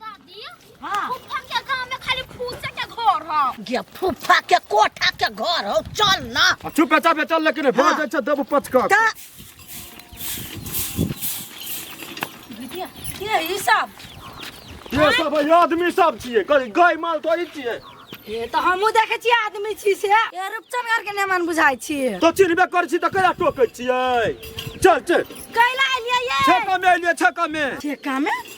दादी हाँ। फूफा के गांव में खाली फूचा के घर ह गे फूफा के कोठा के घर हो चल ना आ, चुप है चुप है चल लेकिन भोज हाँ। अच्छा देबू पच का ता दीदी ये ई सब ये सब है आदमी सब छिए गाय गाय माल तो ई छिए ये तो हमहूँ देखे छियै आदमी छी से ये रूपचन घर के नेमान बुझाइ छी तो चिन्हबे कर छी त कया टोकै छिए चल चल कैला एलियै ये छका में एलिए छका में ठेका में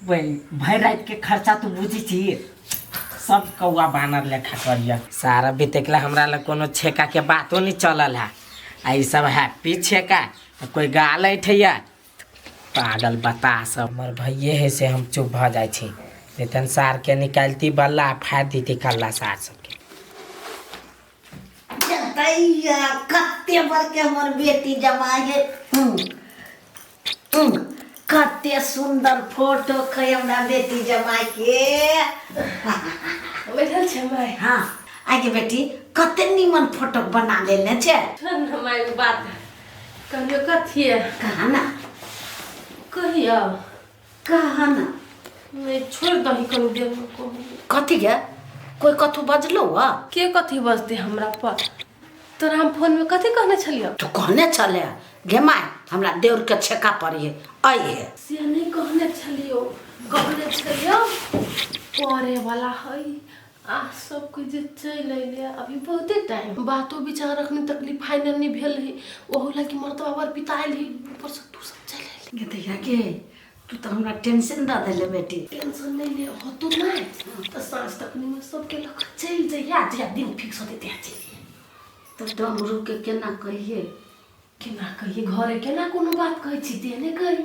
वही भर रात के खर्चा तू बुझी छी सब कौआ बानर लेखा करिया सारा बितेकला हमरा लग कोनो छेका के बातो नहीं चलल है आ ई सब हैप्पी छेका आ कोई गाल ऐठैया पागल बता सब हमर भैये है से हम चुप भ जाय छी वेतन सार के निकालती बल्ला फाड़ दीती कल्ला सार सबके जतैया कते बड़के हमर बेटी जमाय है हम्म, हम्म, कते सुंदर फोटो कै हमरा बेटी जमाय के बैठल छै माय हाँ आगे बेटी कते नीमन फोटो बना लेने छै छोड़ ने माय बात कहलियो कथी है कहा ना कहियो कहा ना नहीं छोड़ दही करू देर में को कथी गे कोई कथू बजलो हुआ के कथी बजते हमरा पर तोरा हम फोन में कथी कहने छलियो तू कहने चले गे माय हमरा देउर के छेका पड़ी है आई है से नहीं कहने छलियो कहने छलियो परे वाला हई आह सब कुछ जे चल अइले अभी बहुते टाइम बातो विचार अखने तक ली फाइनल नहीं भेल रही ओहो ला कि मर्दवा बर पिताइल ही ऊपर से तू सब चल अइले गे दैया गे तू तो हमरा टेंशन दा देले बेटी टेंशन नहीं ले हो तो नहीं तो सांझ तक में सबके लग चल जइया जइया दिन फिक्स होते तैया चलिए तो डमरू के केना कहिए केना कहिए घरे केना कोनो बात कहै छी तेने कही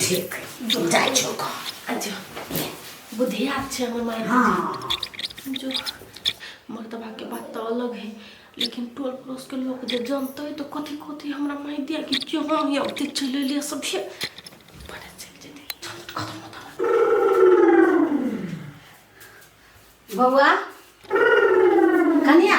ठीक तू जाइ छौ कह अच्छा बुधियार छै हमर माय हाँ जो मर्दबा के बात तऽ अलग है लेकिन टोल पड़ोस के लोग जे जानते तो कथी कथी हमरा माय दिया कि क्यों हम या ओते चले लिया सब ये पता चल जेते चल खत्म होता बौआ कनिया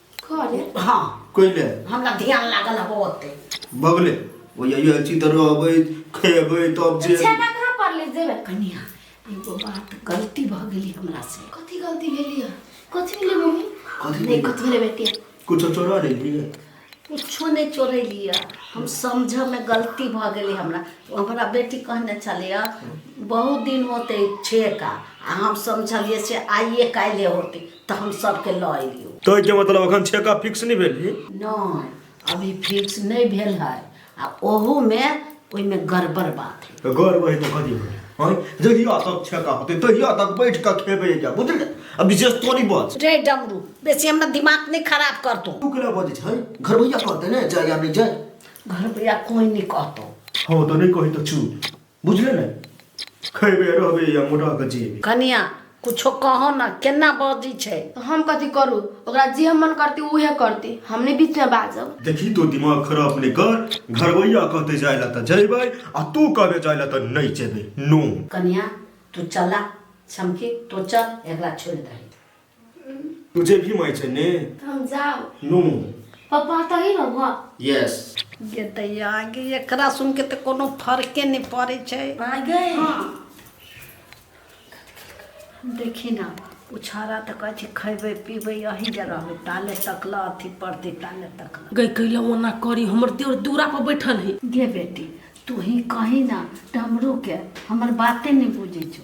करे हाँ कैले हमरा ध्यान लागल है बहुत बगले वो ये ये अच्छी तरह अबे खेबे तब जे छेना कहाँ पर ले जेबे कनिया एगो बात गलती भ गेली हमरा से कथी गलती भेली है कथी भेली मम्मी कथी नहीं भेली? कथी भेले बेटी कुछ चोरा ले लिए कुछो नहीं चोरे लिया हम समझ में गलती भ गेली हमरा तो हमरा बेटी कहने चले बहुत दिन होते छे का आ हम समझलिए से आइए काल्हे होते तऽ हम सबके लऽ एलियौ कहै के मतलब अखन छेका फिक्स नहि भेल जी नहि अभी फिक्स नहि भेल है आ ओहूमे ओहिमे गड़बड़ बात है तऽ गौर वही तऽ कथी भेल हँ जहिया तक छेका होतै तहिया तक बैठ कऽ खेबै एकटा बुझलियै आ विशेष तोरी बच रे डमरू बेसी हमरा दिमाग नहि खराब करतो तू केना बजै छै घरबैया कहतै ने जाय या नहि जाय घर भैया कोई नहि कहतो हँ तऽ नहि कही तऽ चुप बुझले ने खैबे रहबे या मोटा के जेबे कनिया कुछो कहो ना केना बजी छै तो हम कथी करू ओकरा जे हम मन करती उहे करती हमने बीच में बाजब देखी तो दिमाग खराब ने कर घरवैया कहते जाय ला त जैबे आ तू कहबे जाय ला त नहीं जेबे नो कनिया तू चला समकी तो चल एकरा छोड़ दही तुझे भी माय छै ने हम जाओ नो पापा तो ही रहबा यस गे दैया गे एकरा सुन के तऽ कोनो फर्के नहि पड़ै छै आ गए हाँ देखी ना उछारा तऽ कहै छै खैबै पीबै अही जे रहबै ताले तकल अथी पड़तै ताले तकल गई कैला ओना करी हमर देवर दूरा पर बैठल है गे बेटी तू ही कही ना डमरू के हमर बाते नहीं बुझे छो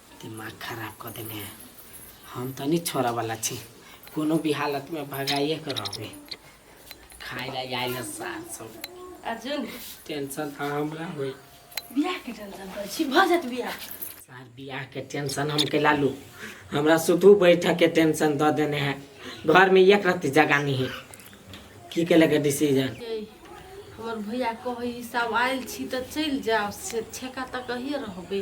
दिमाग खराब कऽ देने है हम तऽ नहि छोड़ऽवला छी कोनो भी हालतमे भगाइए कऽ रहबै खाइ लए जाइ लए सार सब अर्जुन टेंशन तऽ हमरा होइ बियाहके टेंशन करै छी भऽ जायत बियाह सार बियाहके टेंशन हम केला लू हमरा सुतू बैठकके टेंशन दऽ देने है घरमे एक रत्ती जगह नहि है की केलक डिसीजन यै, हमर भैया कहै हिसाब आयल छी तऽ चलि जायब से ठेका तऽ कहिए रहबै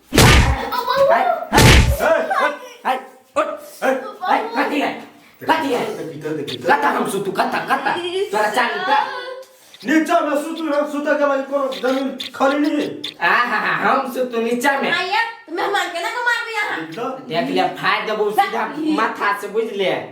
नीचा में सुतू ना सुता के बाद कोनो जमीन खाली नहीं है आहा हम सुतू नीचा में आया मेहमान के ना को मार दिया देख ले फाड़ देबो सीधा माथा से बुझ ले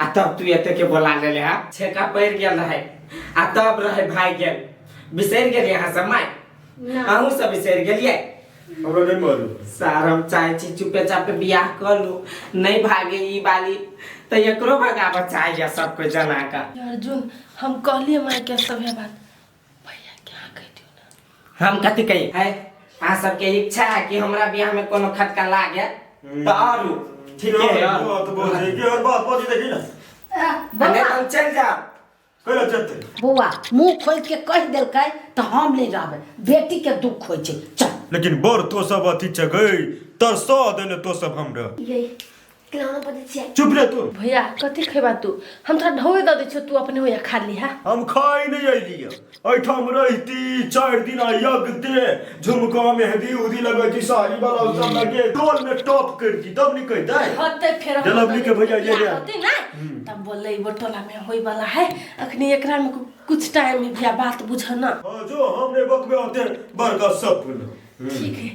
आ तब तू एते के बोला लेले हा छेका पड़ गेल रहे आ तब रहे भाई गेल बिसर गेल यहाँ से माय ना अहू सब बिसर गेलिए हमरा नहीं मालूम सर हम चाहे छी चुपे चापे बियाह कर लू नहीं भागे ई बाली तो एकरो भगाबऽ चाहिए सबको जना का अर्जुन हम कहलिए माय के सभे बात भैया क्या कह दियो ना हम कथी कही है अहाँ सबके इच्छा है कि हमरा बियाह में कोनो खटका लागे तो आरू ठीक है यार बात बोल रही है और बात बोल देखी ना नहीं तो हम चल जाओ कोई चलते बौआ मुंह खोल के कह देलकै तो हम नहीं रहबे बेटी के दुख होय छै चल लेकिन बर तो सब अथी चगई तरसा देले तो सब हमरा यही खिलाना पड़ै छै चुप रह तू भैया कथी खेबा तू हम तोरा ढोए दऽ दै छियौ तू अपने होया खा लिहा हम खाइ नहि अइलियै एहिठाम रहिती चारि दिन यज्ञ दे झुमका मेहंदी उदी लगैती साड़ी वाला सब लगे टोल में टॉप करती तब ने कहते होते फेर जलबी के भैया ये ये होते ना तब बोले वो टोला में होई वाला है अखनी एकरा में कुछ टाइम में भैया बात बुझना हाँ जो हमने बकवे होते बड़का सब ठीक है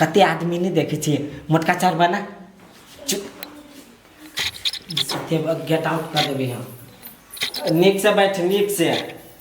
कते आदमी नहीं देखे छे मोटका चार बना गेट आउट कर देवे हम नीक से बैठ नीक से